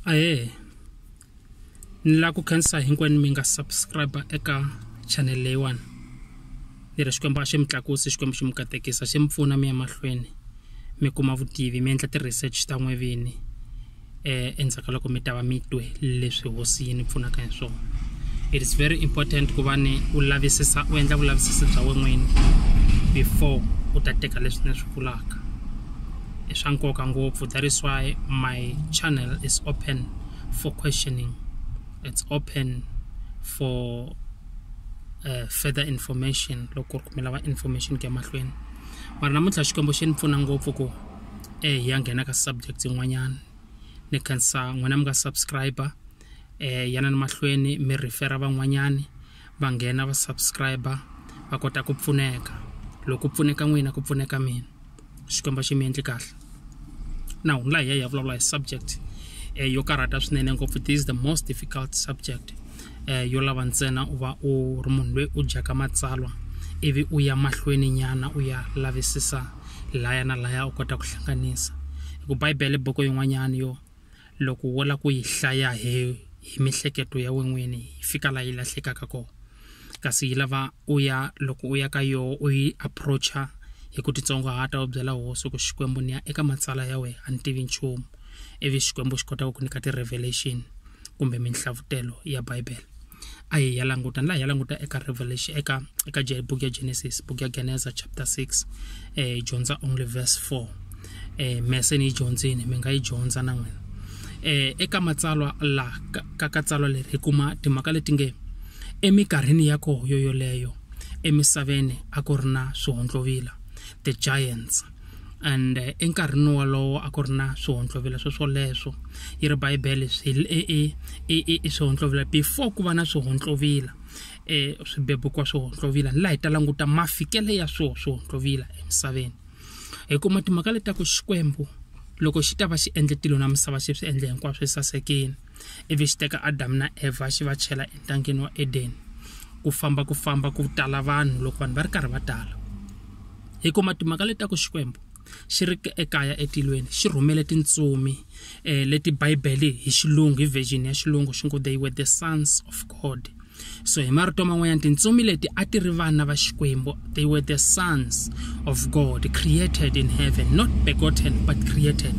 aye ni lava ku khensa hinkwenu mi nga subscribe eka channel leyiwani ni ri xikwembu a xi mi tlakusi xikwembu xi mi katekisa xi mi pfuna mi ya mahlweni mi kuma vutivi mi endla ti-research ta n'we vini um endzhaku ka loko mi ta va mi twe leswi hosi yi ni pfunaka hi swona it is very important ku va ni u lavisisa u endla vulavisisi bya wen'wini before u ta teka leswi ni swi vulaka i swa nkoka ngopfu that is why my channel is open for questioning it's open for uh, further information loko ku ri kumela va information ku ya mahlweni mara namuntlha xikwembu xi ni pfuna ngopfu ku e hi ya nghena ka subject yin'wanyana ni khensa n'wina mi nga subscriber eh yana ni mahlweni mi refera van'wanyani va nghena va subscriber va kota ku pfuneka loko ku pfuneka n'wina ku pfuneka mina xikwembu xi mi endli kahle now la hi ya hi ya vulavula hi subject eh, yo karhata swinene ngopfu this is the most difficult subject eh, yo lava ntsena u va u ri munhu loyi u dyaka matsalwa ivi u ya mahlweni nyana u ya lavisisa laya na laya u kota ku hlanganisa hi ku bibele boko yin'wanyana yo loko wo la ku yi hlaya hi hi mihleketo ya wen'wini yi fika la yi lahlekaka kona kasi yi lava u ya loko u ya ka yoho u yi approacha hi ku titsongohata u byela hosi ku xikwembu ni ya eka matsala ya wena a ni tivi nchumu ivi xikwembu xi kota ku ku nyika ti-revelation kumbe minhlavutelo ya bibele a hi ya languta ni la hi ya languta eka revelation eka eka book ya genesis book ya geneza chapter 6 eh dyondza only verse 4 eh mese ni yi dyondzini mi nga yi dyondza na n'wina eh eka matsalwa la ka ka tsalwa leri hi kuma timhaka leti nge eminkarhini ya koho yo yoleyo emisaveni a ku ri na swihondlovila the giants and eh, enkarhini wolowo a ku ri na swihonhlovela sweswoleswo yi ri bibele i swihonhlovela before ku va na swihonhlovila um swibebukwa swihonhlovila ni laha hi ta languta mafikele ya swo swihonhlovila emisaveni hi kuma timhaka leti ta ku xikwembu loko xi ta va xi endle tilo na misava xi swi endle hinkwaswo esasekeni ivi xi teka adamu na evha xi va chela entangeni wa edeni ku famba ku famba ku tala vanhu loko vanhu va ri karhi va tala hi kuma timhaka leti ta ku xikwembu xi ri ekaya etilweni xi rhumele tintsumi um leti bibele hi xilungu hi version ya xilungu xi ngo they were the sons of god so hi marito man'wanyana tintsumi leti a ti ri vana va xikwembu they were the sons of god created in heaven not begotten but created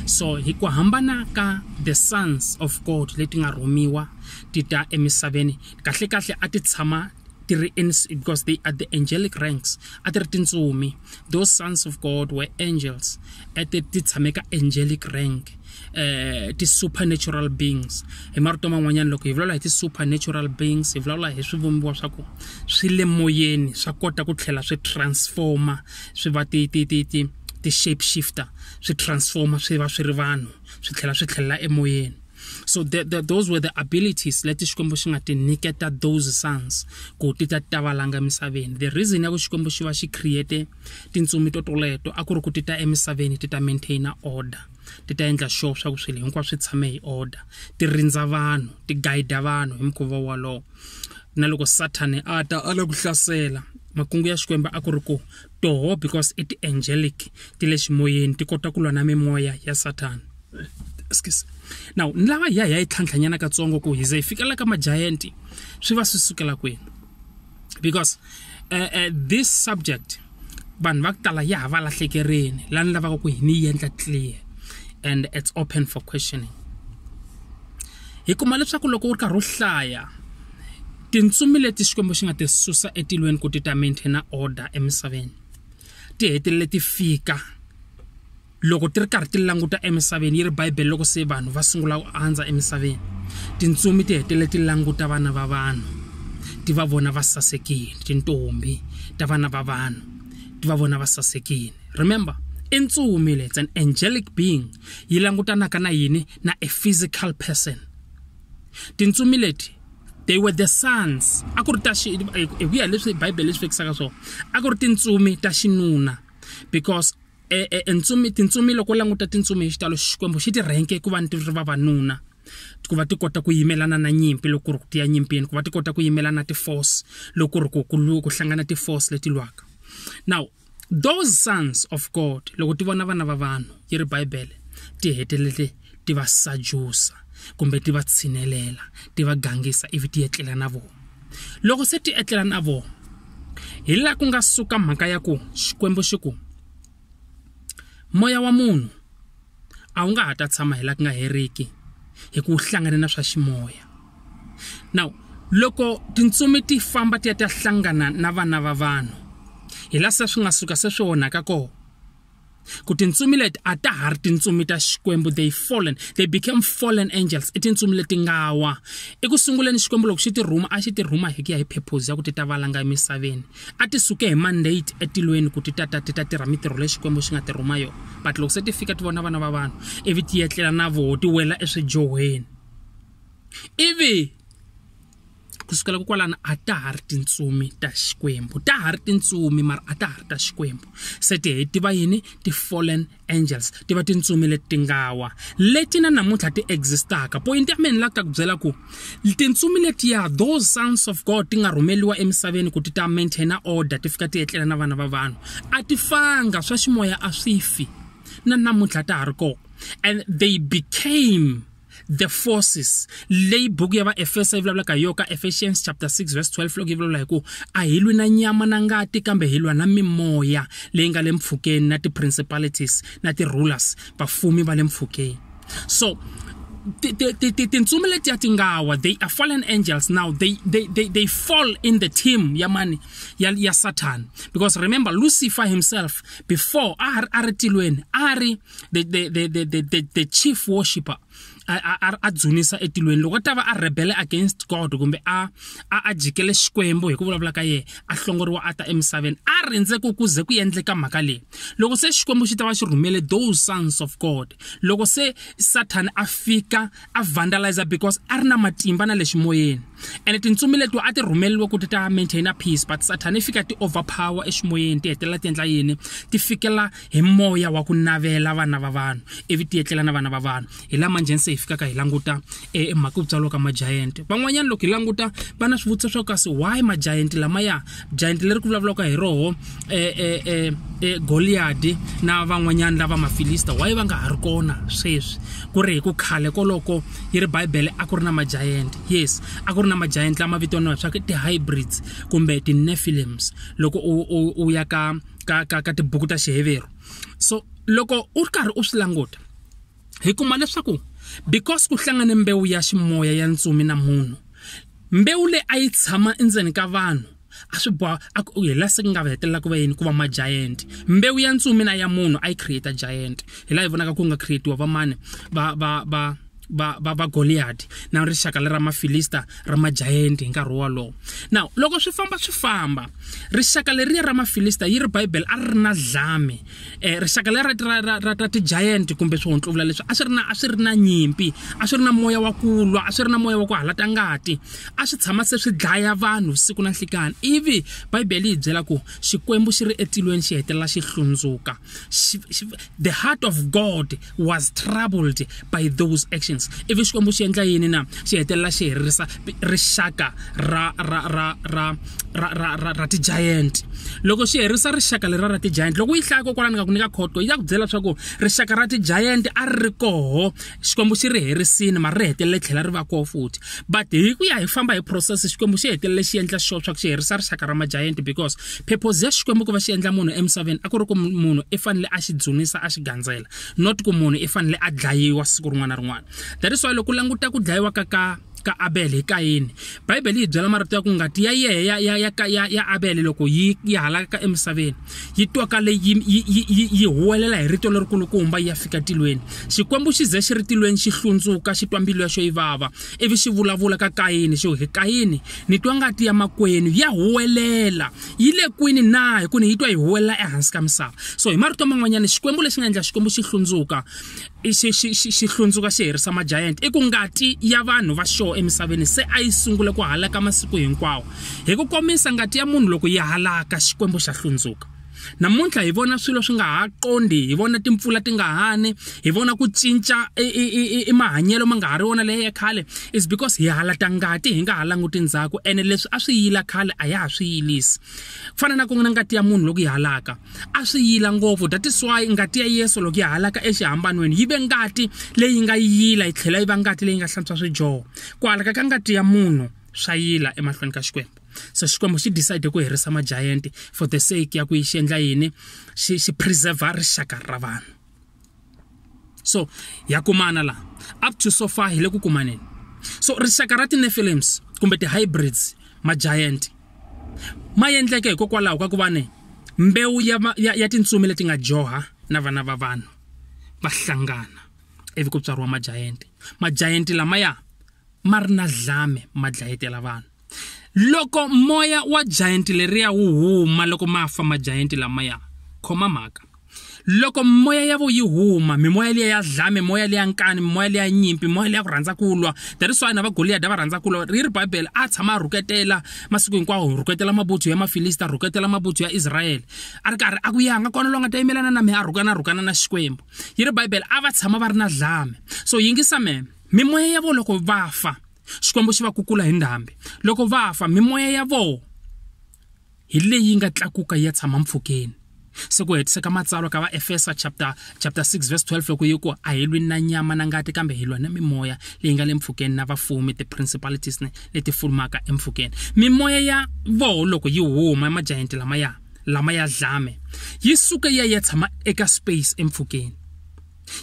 so hi ku hambana ka the sons of god leti nga rhumiwa ti ta emisaveni kahlekahle a ti tshama ti ri because they are the angelic ranks a ti ri tintsumi those sons of god were angels ete ti tshame ka angelic rank eh ti-supernatural beings hi marito man'wanyana loko hi vulavula hi ti-supernatural beings hi vulavula hi swivumbiwa swa ku swi le moyeni swa kota ku tlhela swi transforma swi va ti ti ti ti ti-shape shifter swi transforma swi va swi ri vanhu swi tlhela swi tlhelela emoyeni so the, the, those were the abilities leti xikwembu xi nga ti nyiketa those sons ku ti ta ti ta valanga emisaveni the reason ya ku xikwembu xi va xi create tintsumi to toleto a ku ri ku ti ta emisaveni ti ta maintaina order ti ta endla sure swa ku swilo hinkwaswo swi tshame hi order ti rindza vanhu ti guida vanhu hi mukhuva wolowo na loko sathane a ta a la ku hlasela makungu ya xikwembu a ku ri ku Toho because i ti-angelic ti le ximoyeni ti kota ku lwa na mimoya ya sathana excuse now ni lava hi ya hi ya yi tlhantlhanyana katsongo ku hi ze hi fikela ka majayanti swi va swi sukela kwini because uh, uh, this subject vanhu va ku tala ya ha va lahlekerini lani lavaka ku hi ni yi endla clear and it's open for questioning hi kuma leswaku loko u ri karhi u hlaya Tintsumi leti Xikwembu xi nga ti susa etilweni ku ti ta maintaina order emisaveni ti hetelele ti fika loko ti ri karhi ti languta emisaveni yi ri Bibele loko se vanhu va sungula ku andza emisaveni tintsumi ti hetelele ti languta vana va vanhu ti va vona va sasekile tintombi ta vana va vanhu ti va vona va sasekile remember i ntsumi lets an angelic being yi langutanaka na yini na a physical person Tintsumi leti they were the sons a ku ri ta xi hi ku ya leswi bibele leswi vekisaka swona a ku ri tintsumi ta xinuna because e, e, e ntsumi tintsumi loko u languta tintsumi hi xitalo xikwembu xi ti rhenke ku va ni ti ri vavanuna ku va ti kota ku yimelana na nyimpi loko ri ku tiya nyimpini ku va ti kota ku yimelana na ti-force loko ri ku ku ku hlangana ti-force leti lwaka now Those sons of God, loko ti vona vana va vanhu, yi ri Bibele, ti hetelele ti va sajusa kumbe ti va tshinelela, ti va gangisa ivi ti etlela na vona. Loko se ti etlela na vona, hi laha ku nga suka mhaka ya ku Xikwembu xi ku, moya wa munhu, a wu nga ha ta tshama hi laha ku nga heriki hi ku hlangane na swa ximoya now loko tintsumi ti famba ti ya ta hlangana na vana va vanhu hi la se swi nga suka se swi onhaka kona ku tintsumi leti a ta ha ri tintsumi ta xikwembu they fallen they became fallen angels i tintsumi leti nga wa eku sunguleni xikwembu loko xi ti rhuma a xi ti rhuma hi ku ya hi purpose ya ku ti ta valanga emisaveni a ti suke hi mandate etilweni ku ti ta ta ti ta tirha mitirho leyi xikwembu xi nga ti rhuma yona but loko se ti fika ti vona vana va vanhu ivi ti yetlela na voho ti wela eswijohweni ivi ku sukela kokwalana a ta ha ri tintsumi ta xikwembu ta ha ri tintsumi mara a ta ha ri ta xikwembu se ti heti va yini ti-fallen angels ti va tintsumi leti ti nga wa leti na namuntlha ti existaka poyinti ya mina la ta ku byela ku tintsumi letiya those sons of god ti nga rhumeliwa emisaveni ku ti ta maintaina order ti fika ti etlela na vana va vanhu a ti fanga swa ximoya a swi fi na namuntlha ta ha ri kona and they became the forces leyi buku ya vaefesa yi vulavulaka hi yo ka ephesians chapter 6 verse 12 loko yi vulavula hi ku a hi lwi na nyama na ngati kambe hi lwa na mimoya leyi nga le mpfhukeni na ti-principalities na ti-rulers vafumi va le mpfhukeni so tintsumi letiya ti nga wa they are fallen angels now they, they, they, they fall in the team ya mani ya, ya satan because remember lucifer himself before a ri tilweni a ri the, the, the, the, the, the, the chief worshipper a dzunisa etilweni loko a ta va a rebele against god kumbe a a jikele xikwembu hi ku vulavula ka yena a hlongoriwa a ta emisaveni a rindze ku ku ze ku endleka mhaka leyi loko se xikwembu xi ta va xi rhumele those sons of god loko se sathana a fika a vandalize because a ri na matimba na le ximoyeni ene tintsumi letiwa a ti rhumeliwe ku ti ta maintaina peace but sathana yi fika ti overpower eximoyeni ti hetelela ti endla yini ti fikela hi moya wa ku navela vana va vanhu ivi ti etlela na vana va vanhu hi lama njheni se hi fikaka hi languta e, e mhaka ku tswariwa ka majayente van'wanyana loko hi languta va na swivutiso swa ku kasi why majayente lamaya jayenti leri ku vulavulaka hi roho um um goliyadi na van'wanyana lava mafilista waye va nga ha ri kona sweswi ku ri hi ku khale koloko yi ri bibele a ku ri na majayenti yes a ku ri na majayenti lama vitaniwa swa ti-hybrids kumbe ti-nefilims loko u ya ka ka ka ka tibuku ta xiheveru so loko u ri karhi u swi languta hi kuma leswaku because ku hlangane mbewu ya ximoya ya ntsumi na munhu mbewu leyi a yi tshama endzeni ka vanhu a swi boha a ku hi la se ku nga va hetelela ku va yini ku va majayenti mbewu ya ntsumi na ya munhu a yi create giant hi laha hi vonaka ku nga creatiwa vamani va va va va va va goliyati na rixaka le ra mafilista ra majayenti hi nkarhi wolowo now loko swi famba swi famba rixaka leriya ra mafilista yi ri bibele a ri ri na dlame eh, rixaka leri ra, ra, ra, ra ti-giant kumbe swihontlovula leswi a swi ri na a swi ri na nyimpi a swi ri na moya wa kulwa a swi ri na moya wa ku halata ngati a swi tshama se swi dlaya vanhu siku na nhlikani ivi bibele yi byela ku xikwembu xi ri etilweni xi hetelela xi hlundzuka the heart of god was troubled by those actions ivi xikwembu xi endla yini na xi hetelela xi herisa rixaka ra ra ra ra ra ra ra ra ti-giant loko xi herisa rixaka lera ra ti-giant loko yi hlaya kokwalani nga ku nyika khoto yi ya ku byela leswaku rixaka ra ti-giant a ri ri koho xikwembu xi ri herisini mara ri hetelele tlhela ri va koho futhi but hi ku ya hi famba hi process xikwembu xi hetelele xi endla sure swa ku xi herisa rixaka ra ma-giant because phephozi ya xikwembu ku va xi endla munhu emisaveni a ku ri ku munhu i fanele a xi dzunisa a xi gandzela not ku munhu i fanele a dlayiwa siku rin'wana na rin'wana that is why loko u languta ku dlayiwa ka ka ka abele hi kayini bibele yi byela marito ya ku ngati ya yehe ya, ya, ya, ya, ya abele loko yi, yi halaka emisaveni yi twaka leyi yi, yi, yi, yi, yi huwelela hi rito lerikulukumba yi ya fika tilweni xikwembu xi ze xi ri tilweni xi hlundzuka xi twa mbilu ya xo yi vava ivi xi vulavula ka kayini xo hi kayini ni twa ngati ya makwenu ya huwelela yi le kwini na hi ku ni yi twa yi huwelela ehansi ka misava so hi marito man'wanyana xikwembu lexi nga endla xikwembu xi hlundzuka xi hlundzuka xi herisa majayenti i ku ngati ya vanhu va xoho emisaveni se a yi sungule ku halaka masiku hinkwawo hi ku komisa ngati ya munhu loko yi halaka xikwembu xa hlundzuka namuntlha hi vona swilo swi nga ha qondi hi vona timpfula ti nga hani hi vona ku cinca i mahanyelo ma nga ha ri wona leyi ya khale is because hi halata ngati hi nga ha languti ndzhaku ene leswi a swi yila khale a ya ha swi yilisi ku fana na ku nga ngati ya munhu loko yi halaka a swi yila ngopfu that is why ngati ya yesu loko yi halaka exihambanweni yi ve ngati leyi nga yila yi tlhela yi va ngati leyi nga hlantswa swijoho ku halaka ka ngati ya munhu swa yila emahlweni ka xikwembu so xikwembu xi decide ku herisa magiant for the sake ya ku yi xi endla yini xi xi preserva rixaka ra vanhu so ya kumana laha up to so far hi le ku kumaneni so rixaka ra tinefilims kumbe ti-hybrids magiant ma endleke hikokwalaho ka ku va ne mbewu ya, ya, ya tintsumi leti nga joha na vana va vanhu va hlangana ivi ku tswariwa magiant magiant lamaya ma ri na dlame ma dlayetela vanhu loko moya wa giant leriya wu huma loko ma fa majayanti lamaya khoma mhaka loko moya ya vo yi huma mimoya liya ya dlame moya liya nkani mimoya liya nyimpi moya liya ku rhandza ku lwa that is why na va goliyada va rhandza ku lwa ri ri bibele a tshama a rhuketela masiku hinkwawo rhuketela mabutsu ya mafilista rhuketela mabutsu ya israyele a ri karhi a ku yanga kona loyi nga ta yimelana na mina a rhukana rhukana na xikwembu yi ri bibele a va tshama va ri na dlame so yingisa meme mimoya ya vo loko va fa xikwembu xi va kukula hi ndhambi loko va fa mimoya ya vona hi leyi nga tlakuka yi ya tshama mpfhukeni se ku hetiseka matsalwa ka vaefesa chapter chapter 6 verse 12 loko yi ku a hi lwi na nyama na ngati kambe hi lwa na mimoya leyi nga le mpfhukeni na vafumi ti-principalities ne leti fulumaka empfhukeni mimoya ya voho loko yi huma emajayenti lamaya lama ya dlame yi suke ya ya tshama eka space empfhukeni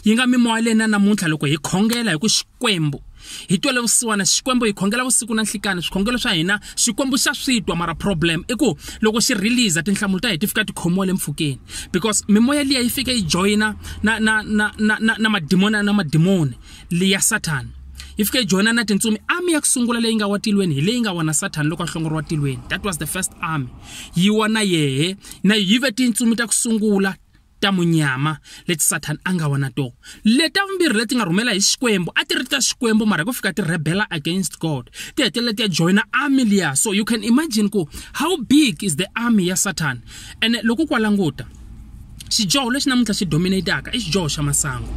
yi nga mimoya leyi na namuntlha loko hi khongela hi ku xikwembu hi twele vusiwana xikwembu hi khongela vusiku na nhlikani swikhongelo swa hina xikwembu xa swi twa mara problem i ku loko xi release tinhlamulo ta hi ti fika ti khomiwa le mpfhukeni because mimoya liya yi fike yi joyina na na na na na na madimoni na madimoni liya sathana yi fike yi joyina na tintsumi army ya ku sungula leyi nga wa tilweni hi leyi nga wona sathana loko a hlongoriwa tilweni that was the first army yi wa na yehe na yive tintsumi ta ku sungula ta munyama leti sathana a nga wa na tona leta vumbirhi leti nga rhumela hi xikwembu a ti ri ta xikwembu mara ku fika ti rebela against god ti hetelela ti ya joyina army liya so you can imagine ku how big is the army ya sathana ene loko ku wa languta xidyoho lexi namuntlha xi dominataka i xidyoho xa masangu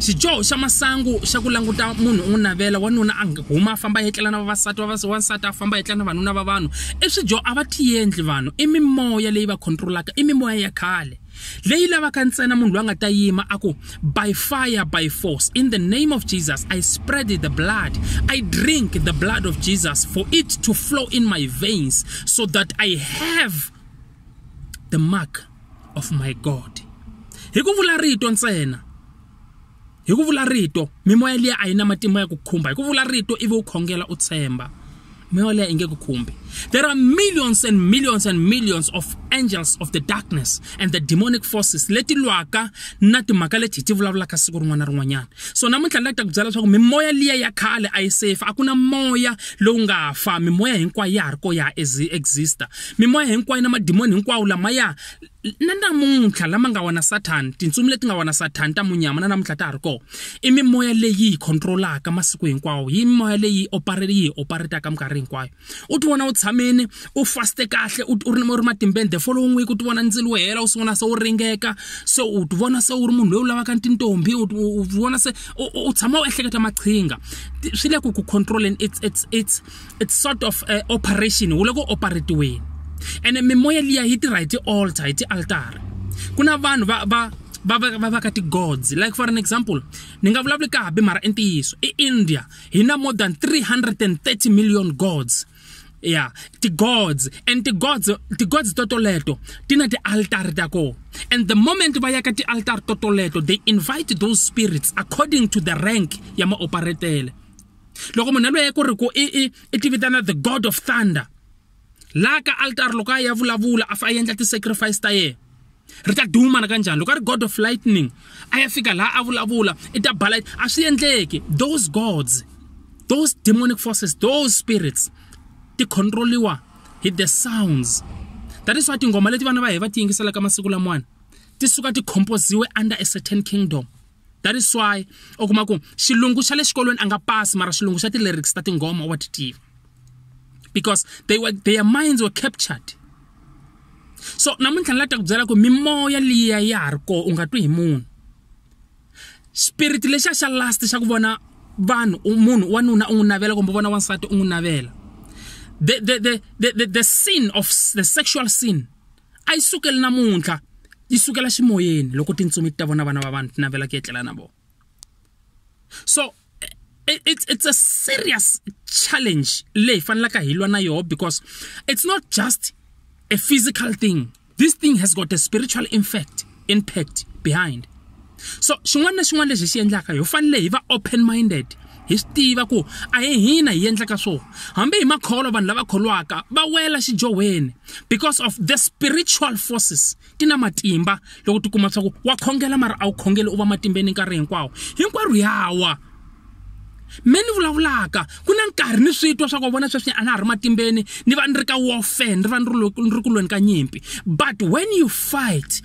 xidyoho xa masangu xa ku languta munhu u n'wi navela wanuna a huma a famba a yetlela na vavasati wansati a famba a yetlela na vanuna va vanhu i swidyo a va tiendli vanhu i mimoya leyi va controlaka i mimoya ya khale leyi lavaka ntsena munhu loyi a nga ta yima a ku by fire by force in the name of jesus i spread the blood i drink the blood of jesus for it to flow in my veins so that i have the mark of my god hi ku vula rito ntsena hi ku vula rito mimoya liya a yi na matimba ya ku khumba hi ku vula rito ivi u khongela u tshemba mimoya liya yi nge ku khumbi there are millions and millions and millions of angels of the darkness and the demonic forces leti lwaka na timhaka leti hi ti vulavulaka siku rin'wana na rin'wanyana so namuntlha ni la ta ku byela leswaku mimoya liya ya khale a yi safe a ku na moya lowu nga fa mimoya hinkwayo ya ha ri ko ya ha exista mimoya hinkwayo na madimoni hinkwawo lamaya na namuntlha lama nga wona sathani tintsumi leti nga wona sathani ta munyama na namuntlha ta ha ri kona i mimoya leyi yi controlaka masiku hinkwawo yi mimoya leyi operate yi operataka minkarhi hinkwayo u ti vona u tshamini u faste kahle u ri u ri matimbeni the following week u ti vona ndzilo wo hela u sungula se u ringeka se u ti vona se u ri munhu loyi u lavaka tintombi u vona se u tshama u ehleketa maqhinga swi le ku ku controleni it's it's it's it's sort of uh, operation wu le ku operatiweni ene mimoya liya yi tirha hi ti-altar hi ti-altara ku na vanhu va va va va va va ka ti-gods like for an example ni nga vulavuli ka habi mara i ntiyiso i india hi na more than 330 million gods ya ti-gods and ti-gods ti-gods totoleto ti na ti-altari ta kona and the moment va ya ka ti-altari totoleto they invite those spirits according to the rank ya maoperetele loko munhu yaloye ku ri ku i i i tivitana the god of thunder la ka altar loko a ya vulavula a fa a endla ti-sacrifice ta yena ri ta duma na kanjani loko a ri god of lightning a ya fika laha a vulavula i ta bala a swi endleki those gods those demonic forces those spirits ti controliwa hi the sounds that is why tingoma leti vana va hi va ti yingiselaka masiku lamawani ti suka ti composiwe under a certain kingdom that is why u kuma ku xilungu xa le xikolweni a nga pasi mara xilungu xa ti-lyrics ta tinghoma wa ti tiva because they were, their minds were captured so namuntlha ni la ta ku byela ku mimoya liya ya ha ri koho u nga twi hi munhu spirit lexiya xa last xa ku vona vanhu munhu wanuna u n'wi navela kumbe vona wansati u n'wi navela the, the, the, the, the, the sin of the sexual sin a yi sukeli namuntlha yi sukela ximoyeni loko tintsumi ti ta vona vana va vanhu ti navela ku etlela na vona so it's, it's a serious challenge leyi fanelaka hi lwa na yoho because it's not just a physical thing this thing has got a spiritual infect impact behind so xin'wana na xin'wana lexi hi xi endlaka hi fanele hi va open minded hi swi tiva ku a hi hina hi endlaka swona hambi hi makholo vanhu lava kholwaka va wela xidyohweni because of the spiritual forces ti na matimba loko ti kuma swa ku wa khongela mara a wu khongeli u va matimbeni nkarhi hinkwawo hinkwerhu yawa me ni vulavulaka ku na nkarhi ni swi twa swa ku vona sweswi a na ha ri matimbeni ni va ni ri ka warfare ni va ni ri ku lweni ka nyimpi but when you fight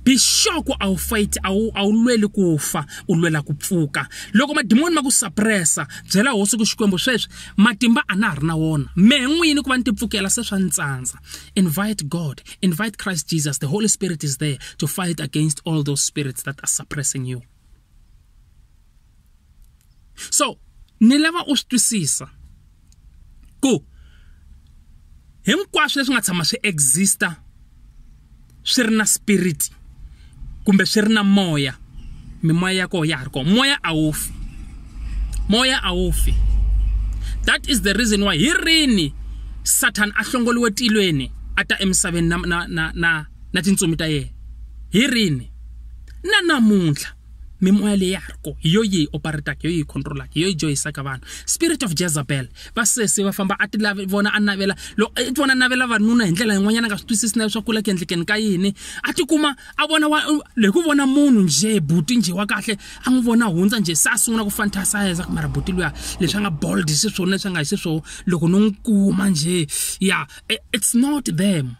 be sure ku a wu fight a wu a wu lweli ku fa u lwela ku pfuka loko madimoni ma ku suppressa byela hosi ku xikwembu sweswi matimba a na ha ri na wona mehe n'wini ku va ni ti pfukela se swa ni tsandza invite god invite christ jesus the holy spirit is there to fight against all those spirits that are suppressing you so ni lava u swi twisisa ku hinkwaswo leswi nga tshama swi exista swi ri na spirit kumbe swi ri na moya mimoya ya kona ya ha ri kona moya a wu fi moya a wu fi that is the reason why hi rini satan a hlongoliwe tilweni a ta emisaveni na na na na na tintsumi ta yena hi rini na namuntlha mimoya leyi ya ha ri kona hi yo yi hi operataka hi yo yi hi controlaka hi yo yi joyisaka vanhu spirit of jezabel va sesi va famba a ti lavi vona a navela loko i vona a navela vanuna hi ndlela yin'wanyana a nga swi twisisi na leswaku ku la ku endlekeni ka yini a tikuma a vona wa hi ku vona munhu njhe buti njhe wa kahle a n'wi vona hundza njhe se a sungula ku fantasisa ku mara buti luya leswi a nga bold xiswona leswi a nga hi xiswona loko no n'wi kuma njhe ya it's not them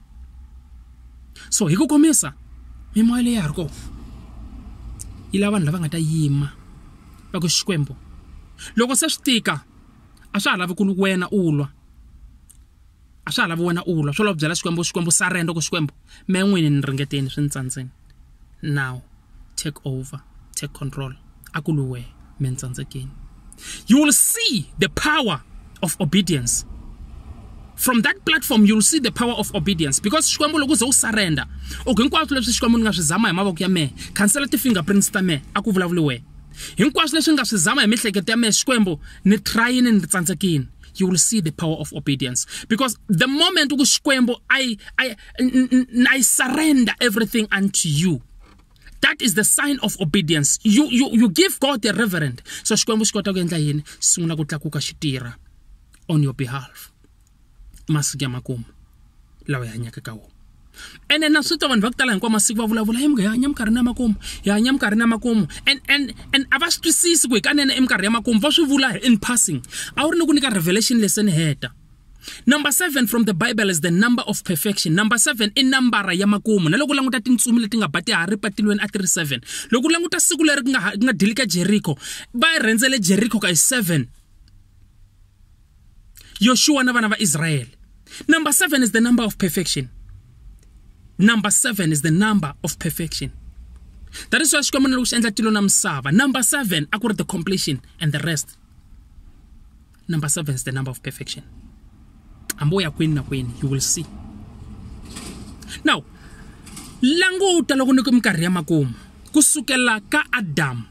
so hi ku komisa mimoya leyi ya ha ri kona yi lava vanhu lava nga ta yima va ku xikwembu loko se swi tika a swa ha lavi ku wena u lwa a swa ha lavi wena u lwa swo lava ku byela xikwembu xikwembu surrender ku xikwembu me n'wini ni ringeteni swi ni tsandzeni. now take over take control akuluwe mentsandzekeni you will see the power of obedience from that platform you'll see the power of obedience because xikwembu loko uze u surrender u hinkwaswo leswi xikwembu ni nga swi zama hi mavoko ya mehe khansela ti-fingerprints ta mehe a ku vulavuli wena hinkwaswo leswi ni nga swi zama hi miehleketo ya mehe xikwembu ni trayini ni tsandzekini you will see the power of obedience because the moment ku xikwembu i i and I surrender everything unto you. That is the sign of obedience. You, you, you give God the reverend. So Xikwembu xi kota ku endla yini? Sungula ku tlakuka xi tirha on your behalf. Masiku ya makumu lawa hi hanyaka ka wona. ene na swi twa vanhu va ku tala hinkwawu masiku va vulavula hi hi hanya minkarhi na makumu hi hanya minkarhi na makumu and and and a va swi twisisi ku hi kanene i minkarhi ya makumu va swi vula in passing a wu ri ni ku nyika revelation leseni heta number seven from the bible is the number of perfection number seven i nambara ya makumu na loko u languta tintsumi leti nga ba ti hari patilweni a ti ri seven loko u languta siku leri ku nga ku nga dili ka jeriko va rhendzele jeriko ka hi seven yoshuwa na vana va israyele number seven is the number of perfection number seven is the number of perfection that is why xikwembu na loko xi endla tilo na misava number seven a ku ri the completion and the rest number seven is the number of perfection amboya kwini na kwini you will see now languta loko ni ku minkarhi ya makumu ku sukela ka adamu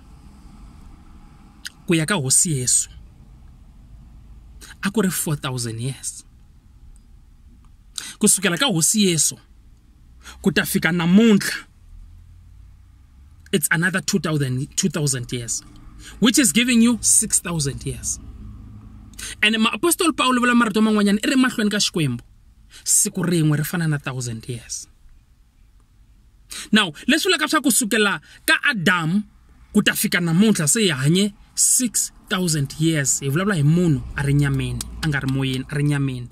ku ya ka hosi yesu a ku ri 4000 years ku sukela ka hosi yesu ku ta fika namuntlha it's another 2000 2000 years which is giving you 6000 years and maapostoli paulo vula marito man'wanyana i ri mahlweni ka xikwembu siku rin'we ri fana na 1000 years now leswi vulaka swa ku sukela ka adamu ku ta fika namuntlha se hi hanye 6000 years hi vulavula hi munhu a ri nyameni a nga ri moyeni a ri nyameni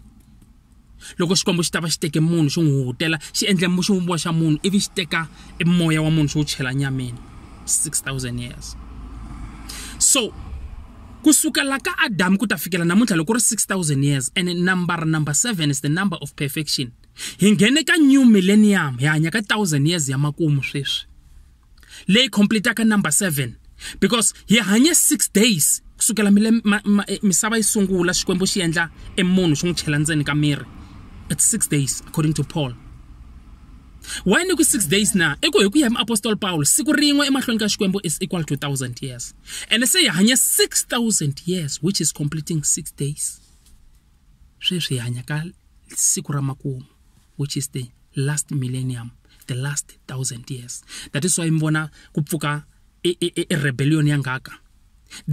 loko xikwembu xi ta va xi teke munhu xi n'wi hutela xi endle xivumbiwa xa munhu ivi xi teka e moya wa munhu xi wu chela nyameni 6000 years so kusukela ka adamu ku ta fikela namuntlha loko ku ri 6000 years and number number 7 is the number of perfection hi nghene ka new millennium hi hanya ka 1000 years ya makumu sweswi leyi completaka number 7 because hi hanye 6 days kusukela mile ma, ma, eh, misava yi sungula xikwembu xi endla emunhu xi n'wi chela ndzeni ka miri it's 6 days according to paul why ni ku 6 days na i ku hi ku ya hi muapostoli paulo siku rin'we emahlweni ka xikwembu is equal to 1000 years ene se hi hanya 6000 years which is completing 6 days sweswi hi hanya ka siku ra makumu which is the last millennium the last thousand years that is why mibona kupfuka irebellion yangaka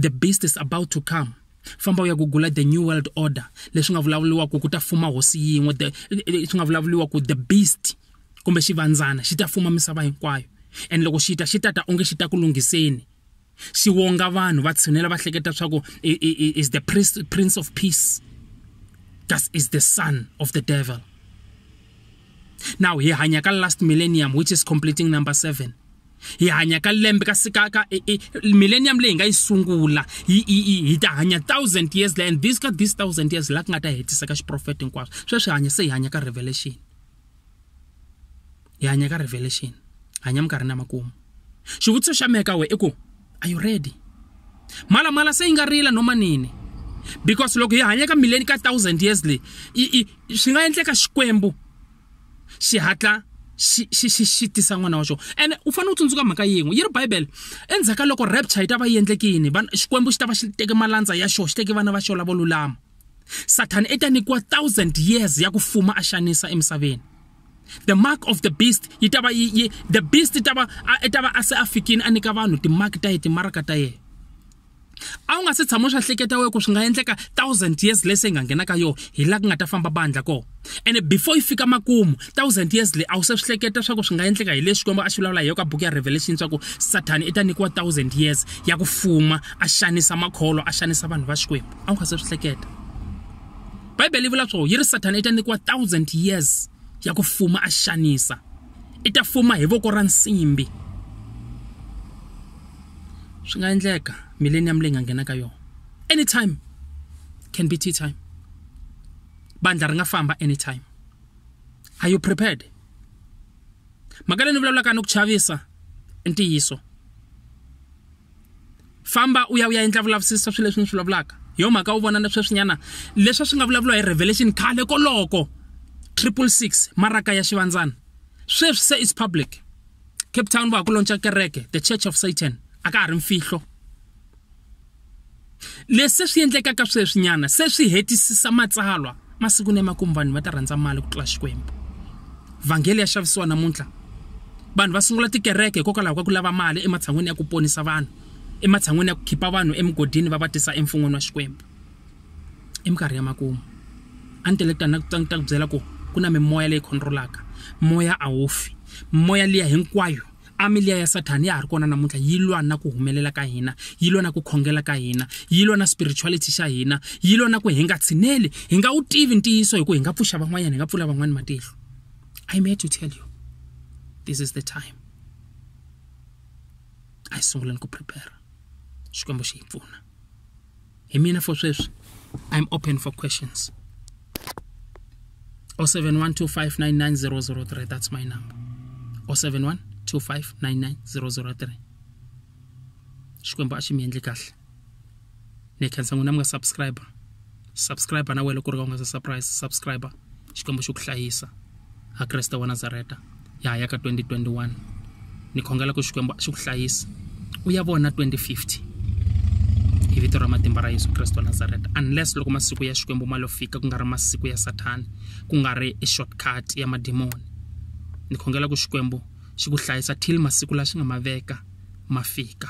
the beast is about to come famba u ya gugula the new world order leswi nga vulavuriwa ku ku ta fuma hosi yin'we swi nga vulavuriwa ku the beast kumbe xivandzana xi ta fuma misava hinkwayo and loko xi ta xi tata onge xi ta ku lunghiseni xi wonga vanhu va tshinela va hleketa swa ku is the prince of peace thus is the son of the devil now hi hanya ka last millennium which is completing number seven hi hanya ka lembe ka sika ka millennium leyi nga yi sungula hi ta hanya thousand years la and this ka this thousand years la ku nga ta hetisa ka xiprofeta hinkwaswo sweswi hanya se hi hanya ka revelation hi hanya ka revelation hanya minkarhini ya makumu xivutiso xa mehe ka we i ku are you ready malamala se yi nga rila noma nini because loko hi hanya ka mileni ka thousand years leyi swi nga endleka xikwembu xi hatla xi xi xi xi tisa n'wana wa xona ene u fanele u tsundzuka mhaka yin'we yi ri bibele endzhaku ka loko rapture yi ta va yi endleke yini xikwembu xi ta va xi teke malandza ya xona xi teke vana va xona lavo lulama sathana i ta nyikiwa thousand years ya ku fuma a xanisa emisaveni the mark of the beast yi ta va yi yi the beast ta va a ta va a se a fikini a nyika vanhu timark ta ye timaraka ta yena a wu nga se tshama swa hleketa we ku swi nga endleka thousand years leyi se yi nga nghena ka yona hi laha ku nga ta famba bandla kona ene before yi fika makumu thousand years leyi a wu se swi hleketa swa ku swi nga endleka hi leswi xikwembu a swi vulavula hi yona ka buku ya revelation swa ku sathani i ta nyikiwa thousand years ya ku fuma a xanisa makholo a xanisa vanhu va xikwembu a wu nga se swi hleketa bibele yi vula swo yi ri sathana i ta nyikiwa thousand years ya ku fuma a xanisa i ta fuma hi voko ra nsimbi swi nga endleka millennium leyi nga nghena ka yona anytime can be tea time bandla ri nga famba anytime are you prepared mhaka leyi ni vulavulaka ni ku chavisa i ntiyiso famba u ya u ya endla vulavisisa swilo leswi ni swi vulavulaka hi yo mhaka u vona na sweswinyana leswi swi nga vulavuriwa hi revelation khale koloko triple six maraka ya xivandzana sweswi se is public cape town va ha ku lontsha kereke the church of satan a ka ha ri mfihlo Leswi swi endlekaka sweswinyana se swi hetisisa matsalwa. Masiku ni emakumu vanhu va ta rhandza mali ku tlula Xikwembu. Vhangele ya xavisiwa namuntlha. Vanhu va sungula tikereke hikokwalaho ka ku lava mali ematshan'weni ya ku ponisa vanhu, ematshan'weni ya ku khipa vanhu emugodini va va tisa eMfun'wini wa Xikwembu. I minkarhi ya makumu. A ni tele ku ta ni ta ni ta ku byela ku ku na mimoya leyi control-aka. Moya a wu fi. Mimoya liya hinkwayo. Amiliya ya Sathani ya ha ri kona namuntlha yi lwa na ku humelela ka hina, yi lwa na ku khongela ka hina, yi lwa na spirituality xa hina, yi lwa na ku hi nga tshineli, hi nga wu tivi ntiyiso hi ku hi nga pfuxa van'wanyana, hi nga pfula van'wana matihlo. I'm here to tell you, this is the time. A hi sunguleni ku prepare, Xikwembu xi hi pfuna. hi mina for sweswi i'm open for questions 0712599003 that's my number 0712599003 xikwembu a xi mi endli kahle ni khensa n'wina mi nga subscriber subscriber na wena loko ri ka u nga se surprise subscriber xikwembu xi ku hlayisa ha kreste wa nazareta ya ha ya ka 2021 ni khongela ku xikwembu xi ku hlayisa u ya vona 2050 hi vito ra matimba ra yesu kreste wa nazareta unless loko masiku ya xikwembu ma lo fika ku nga ri masiku ya sathani ku nga ri i shortcut ya madimoni ni khongela ku xikwembu xi ku hlayisa till masiku la xi nga ma veka ma fika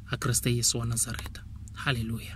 ha kreste yesu wa nazareta halleluya